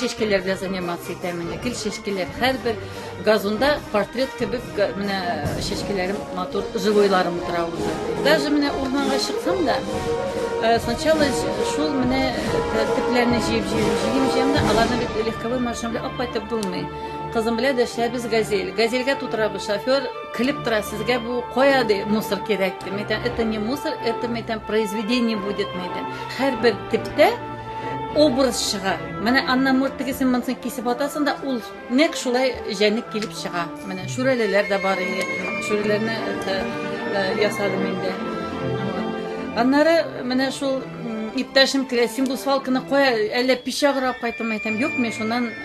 чәчкәләр белән заниматься итәмен. Гел чәчкәләр һәрбер газонда портрет кебек менә чәчкәләрем матур живойларым утыра үзе. Даже менә урманга чыксам да, э, сначала шул менә э, төпләрне җыеп җыеп җыеп җыеп да аларны бит легковой машина белән алып кайтып булмый. Кызым белән дәшләбез газель. Газельгә тутырабыз шофер көлеп тора сезгә бу кая ди мусор кирәк ди мәйтәм это не мусор это мәйтәм произведение будет мәйтәм һәрбер типтә образ чыга менә аннан мурт тегесен монысын кисеп атасың да ул нәкъ шулай җәнлек килеп чыга менә шүрәлеләр дә бар иде шүрәләрне э, э, ясадым инде аннары менә шул иптәшем килә син бу свалканы кая әллә пич аграп кайттыңмы әйтәм юк мин шуннан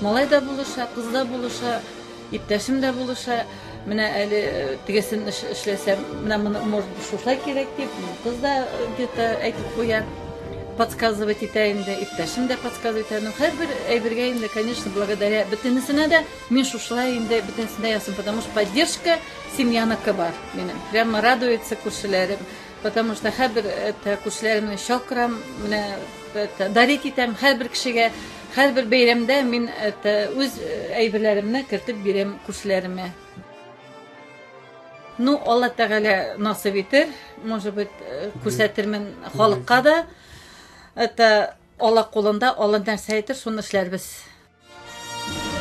Малай да булыша, кыз да булыша, иптәшем дә булыша. Менә әле э, тегесен эшләсәм, менә моны может шушай кирәк дип, кыз да э, где-то әйтеп куя. Подсказывать итә инде, иптәшем дә подсказывать итә. Ну, һәрбер әйбергә инде, конечно, благодаря бөтенесенә дә мин шушылай инде бөтенесенә ясым, потому что поддержка семьяныкы бар минем. Прямо радуется күршеләрем, потому что һәрбер это күршеләремне чакырам, менә это дарить итәм һәрбер кешегә. Һәрбер бәйрәмдә мин үз әйберләремне кертеп бирәм күршеләремә. Ну, Алла Тәгалә насыйп итер, может быть, күрсәтермен халыкка да. Это Алла кулында, Алла нәрсә әйтер, шуны эшләрбез.